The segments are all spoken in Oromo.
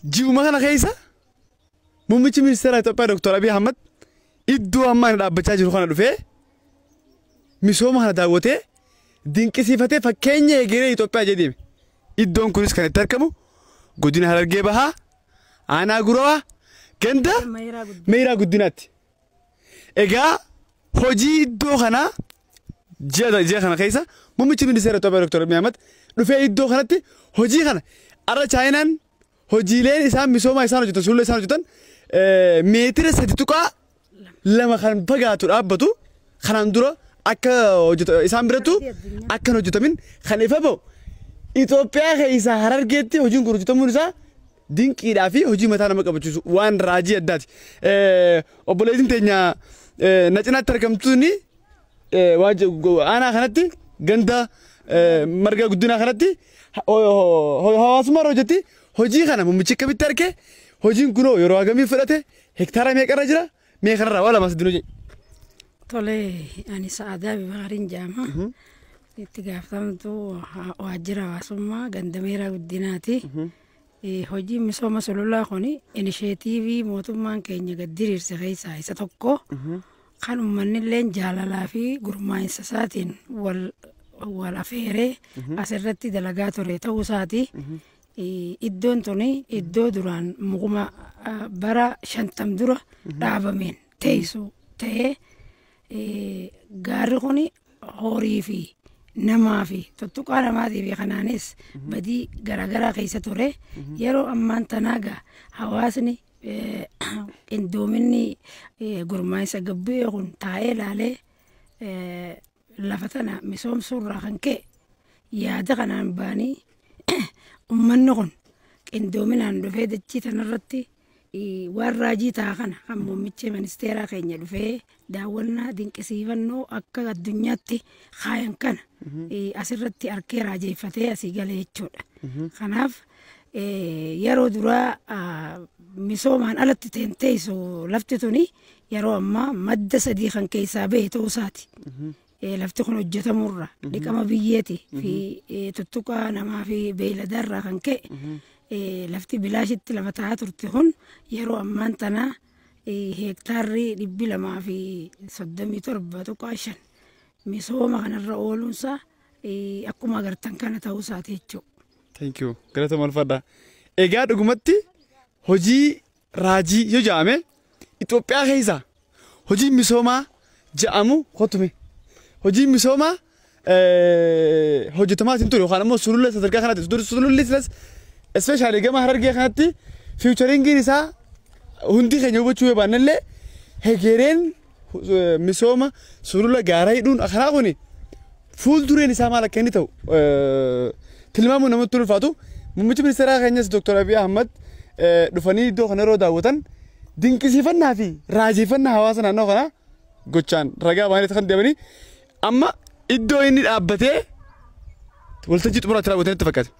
Ji'uma kana keessa muummichi ministeeraa Itoophiyaa Dr. Abiy Ahmad iddoo ammaa inni dhaabbachaa jiru kana dhufee misooma kana daawwatee dinqisiifatee fakkeenya egeree Itoophiyaa jedhee deeme. Iddoon kunis kan itti argamu godina Harargee Bahaa aanaa Gurawaa ganda Meeyiraa Guddinaatti. Egaa hojii iddoo kanaa ji'a ji'a kana keessa muummichi ministeera Itoophiyaa Dr. Abiy Ahmed dhufee iddoo kanatti hojii kana arra Chaayinaan hojiileen isaan misoomaa isaan hojjetan sulula isaan hojjetan eh, meetira sadi tuqaa lama kan fagaatu dhaabbatu kanaan dura akka hojjeta- isaan birattu akka hin hojjetamin kan ifa ba'u Itoophiyaa keessaa harargeetti hojiin kun hojjetamuun isaa dinqiidhaa fi hojii mataa nama qabachiisu waan raajii addaati. Obboleettiin teenya na cinaatti argamtuun aanaa kanatti ganda marga guddinaa kanatti hawaasummaa irra hojjetti hojii kana mummichi akkamitti arge hojiin kunoo yeroo hagamii fudhate hektaara meeqarra jira mee kanarraa waa lamas dinuu jedhe. Tole ani sa'aadaa bibaariin jaama. Itti gaafatamtu waajjira hawaasummaa ganda meeraa guddinaati. Hojiin misooma sululaa kun inisheetiivii mootummaan keenya gad diriirse keessaa isa tokko. Kan uummanni illee jaalalaa fi gurmaa'insa isaatiin wal wal afeeree asirratti dalagaa ture ta'uu isaati. Iddoon tuni iddoo duraan mukuma bara shantam dura dhaabameen teessuu ta'ee Gaarri kun horii fi namaa fi tuttuqaa namaatii fi kanaanis badii garaagaraa keessa ture. Yeroo ammaan tanaa gaa hawaasni qindoominni gurmaa'insa gabbu'ee kun taa'ee laalee lafa tana misoomsuurraa kan ka'e yaada kanaan baanii ummanni kun qindoominaan dhufee dachii tanarratti Waan raajii ta'a kana kan muummichi ministeeraa keenya dhufee daawwannaa dinqisiifannoo akka addunyaatti kaayan kana asirratti harkee raajeeffatee asii gale jechuudha. Kanaaf yeroo duraa misoomaan alatti teenteessu lafti tuni yeroo ammaa madda sadii kan keessaa bahe ta'uu isaati. Eh, Lafti kun hojjetamurra dhiqama biyyeeti fi eh, tuttuqaa namaa fi beeyladarraa kan ka'e eh, lafti bilaashitti lafa ta'aa turte kun yeroo ammaan tanaa eh, heektaarri dhibbi lamaa fi soddomii torba tuqaa shan misooma kanarra ooluunsaa eh, akkuma agartan kana ta'uu isaati jechuudha. Thank you. Galata malfadha. Egaa dhugumatti hojii raajii yoo ja'ame Itoophiyaa keessa hojiin misoomaa ja'amu kottu mee hojiin misoomaa hojjetamaa isin ture yookaan ammoo sulula sadarkaa kanatti dur sululli silas especially gama harargee kanatti fiicharingiin isaa hundi keenya hubachuu yoo baannellee hegereen misooma sulula gaaraa hidhuun karaa kun fuuldureen isaa maal akka inni ta'u tilmaamuun namatti ulfaatu. Muummichi ministeeraa keenyas Dr. Abiy Ahmad dhufanii iddoo kana yeroo daawwatan dinqisiifannaa fi raajeffannaa hawaasa naannoo kanaa gochaan ragaa baay'inatti kan deemanii Amma iddoo inni dhaabbatee waltajjii xumuraa itti raawwatan itti fakkaate.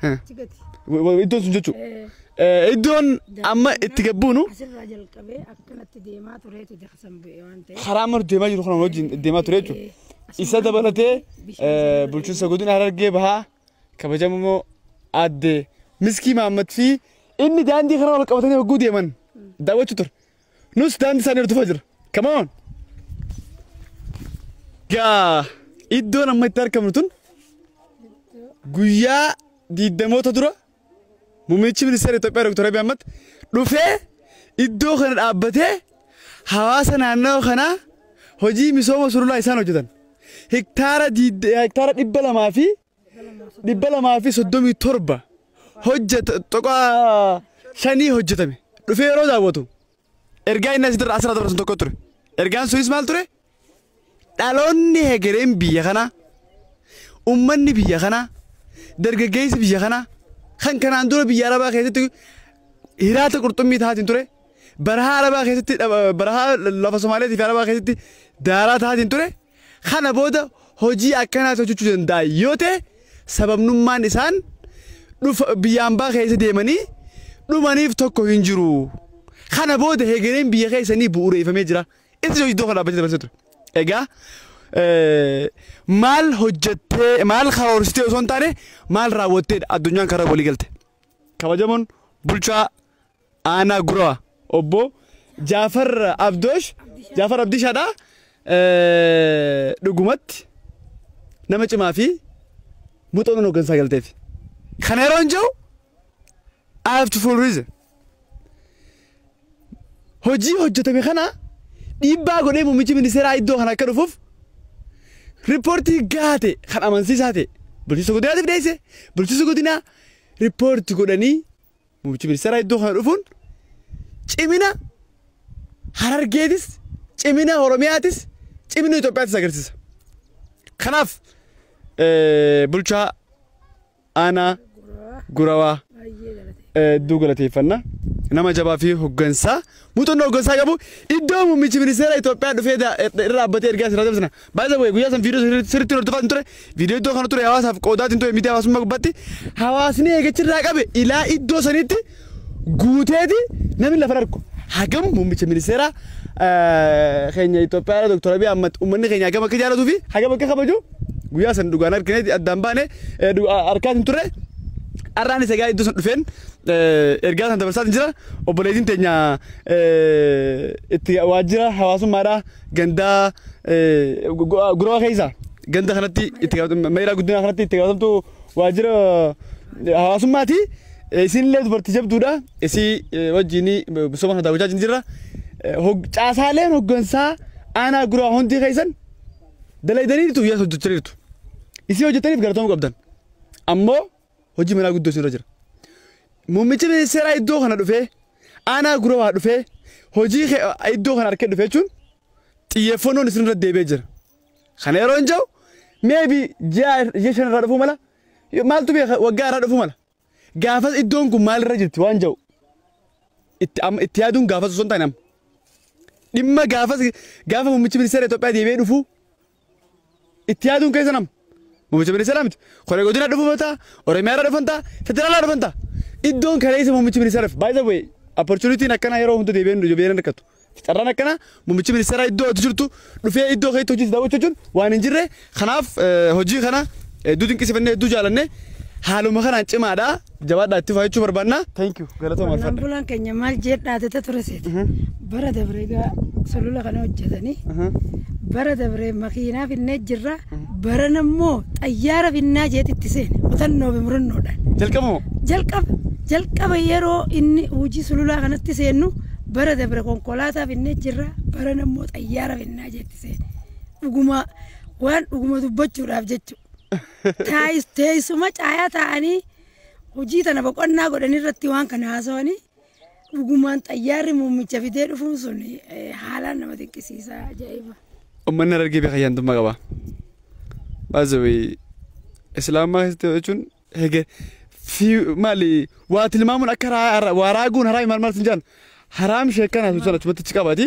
Haa. Chigati. Wa- wa- Iddoon sun jechuudha. Eh, Eh, Iddoon amma itti gabbuunu Asirraa jalqabee akkanatti deemaa tureeti daaksan bu'e waan ta'eef. karaa amma nuti deemaa jiru kana wajjin deemaa ture jechuudha. Isa dabalatee eh, bulchiinsa godina Harargee bahaa kabajamoo aadde Miskii Mahammad fi inni daandii kana wal qabatanii hogguu deeman daawwachuu ture. Nus daandii isaanii hordofaa jira. Come on! Gaa iddoon amma itti argamnu tun guyyaa diiddamoota dura muummichi ministeera Itoophiyaa Dr. Abiy Ahmad dhufee iddoo kana dhaabbatee hawaasa naannoo kanaa hojii misooma sululaa isaan hojjetan hektaara diidda- hektaara dhibba lamaa fi dhibba lamaa fi soddomii torba hojjeta tuqaa shanii hojjetame dhufee yeroo daawwatu ergaa inni asirra asirra dabarsan tokko ture. Ergaan sunis maal ture? Dhaloonni hegereen biyya kanaa ummanni biyya kanaa dargaggeessi biyya kanaa kan kanaan dura biyya arabaa keessatti hiraata qurxummii taatiin ture barahaa arabaa keessatti dhaba- barahaa lafa somaaleetii fi arabaa keessatti daaraa taatiin ture Kana booda hojii akkanaas hojjechuu danda'an yoo ta'e sababnummaan isaan dhufa biyya ambaa keessa deemanii dhumaniif tokko hin jiru. Kana booda hegereen biyya keessanii bu'uureeffamee jira. Itti hojii tokko dhaabbachuu dabarsee ture. Egaa eh, maal hojjettee maal karoorsitee osoo hin taane maal raawwatteedha addunyaan karaa walii galte. Kabajamoon bulchaa Aanaa Guraa Obbo Jaafar Abdoosh Jaafar Abdishaadha. Dhugumatti nama cimaa fi muuxannoon hooggansaa galteef. Kana yeroon jiru I have to full reason. Hojii hojjetame kana dhiibbaa godhee muummichi ministeeraa iddoo kana akka dhufuuf riippoortii gahaa ta'e kan amansiisaa ta'e bulchiinsa godinaatiif dhiyeesse bulchiinsa godinaa riippoortii godhanii Muummichi ministeeraa iddoo kana dhufuun cimina Harargeetis, cimina Oromiyaatis, cimina Itoophiyaatis agarsiisa. Kanaaf bulchaa aanaa gurawaa hedduu galateeffanna. Nama jabaa fi hoggansaa Muuxannoo hoggansaa qabu iddoo muummichi ministeera Itoophiyaa dhufee da- er- irra dhaabbatee ergaa isin raabsina. By the way, guyyaa san viidiyoo sirri- sirriitti hordofaa hin ture. Viidiyoo iddoo kana ture hawaasaaf qoodaa hin ture miidiyaa hawaasummaa gubbaatti. Hawaasni eegachi irraa qabe ilaa iddoo saniitti guuteeti namni lafa argu. Hagam muummicha ministeeraa eh, keenya Itoophiyaa Dr. Abiy Ahmad uummanni keenya hagam akka jaalatuu fi hagam akka kabaju Guyyaa san dhugaan argineeti addaan baane harkaa hin turre. Har'aan isa egaa iddoo san dhufeen ergaa sana dabarsaa jira. Obboleettiin teenya itti waajjira hawaasummaadhaa gandaa guroo keessa ganda kanatti itti meeraa guddinaa kanatti itti gaafatamtu waajjira hawaasummaati. Isinillee dubartii jabduudha. Isii wajjin misooma kana daawwachaa jirra. Caasaaleen hoggansaa aanaa guraa hundi keessan dalaydaniirtu yes hojjechaniirtu isii hojjetaniif galatamuu qabdan ammoo hojii manaa guddoo isinirra jira muummicha ministeeraa iddoo kana dhufee aanaa gurawaa dhufee hojii kee iddoo kana harkee dhufee jechuun xiyyeeffannoon isinirra deebi'ee jira kana yeroo hin jiru meebi ji'a ji'a shan irraa dhufuu mala maaltu beeka waggaa irraa dhufuu mala Gaafas iddoon kun maalirra jirti waan ja'u itti amma itti yaaduun gaafas osoo hin taane amma. Dhimma gaafas gaafa muummichi ministeera Itoophiyaa deebi'ee dhufu itti yaaduun keessa nama. Muummicha ministeeraa miti. Koree godina dhufu mataa, Oromiyaarra dhufan ta'a, federaalaa dhufan ta'a. Iddoon kaleessa muummichi ministeeraaf baay'ee bu'e opportunitiin akkanaa yeroo hunda deebi'een deebi'een rakkatu. Carraan akkanaa muummichi ministeeraa iddoo ati jirtu dhufee iddoo keetti hojii daawwachuu jechuun waan hin jirre kanaaf hojii kana hedduu dinqisiifannee hedduu jaalannee haaluma kanaan cimaadha jabaadhaa itti fufaa jechuu barbaanna. Thank you galatoomaa Qonnaan alfadha. bulaan keenya maal jedhaa tete ture seete. Bara dabree gaa sulula kana hojjetanii bara dabree makiinaa finnee jirra. Barana immoo xayyaara finnaa jeet itti seene kutannoo fi murannoodhaan. Jalqaba moo? Jalqaba jalqaba yeroo inni hojii sululaa kanatti seennu bara dabre konkolaataa finnee jirra barana immoo xayyaara finnaa jeetti seene. Dhuguma waan dhuguma dubbachuudhaaf jechuudha. Taayis- Teessuma caayaa taa'anii hojii tana boqonnaa godhan irratti waan kana haasawanii Dhugumaan xayyaarri muummicha fidee dhufuun sun haalaan nama dinqisiisa ajaa'iba. Uummanni Harargee beekaa ayyaantummaa qaba. Baazawee Islaamummaa keessatti jechuun hege fi maali waa tilmaamuun akka waa raaguun haraami maal maal sin jaan haraam sheekkana sun achumatti achi qabati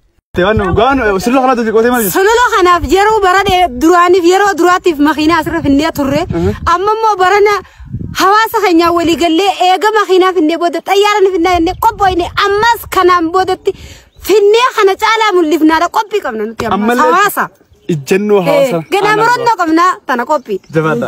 Sololoo kanaaf yeroo bara duraaniif yeroo duraatiif makiinaa asirra finnee turre amma immoo barana hawaasa keenyaa walii gallee eega makiinaa finnee booda xayyaara ni finnaa jennee qophoofne ammas kanaan boodatti finnee kana caalaa mul'ifnaadha qophii qabna nuti ammas hawaasa. Ijjannoo hawaasa. Ganaa murannoo qabna tana qophii. Jabaadha.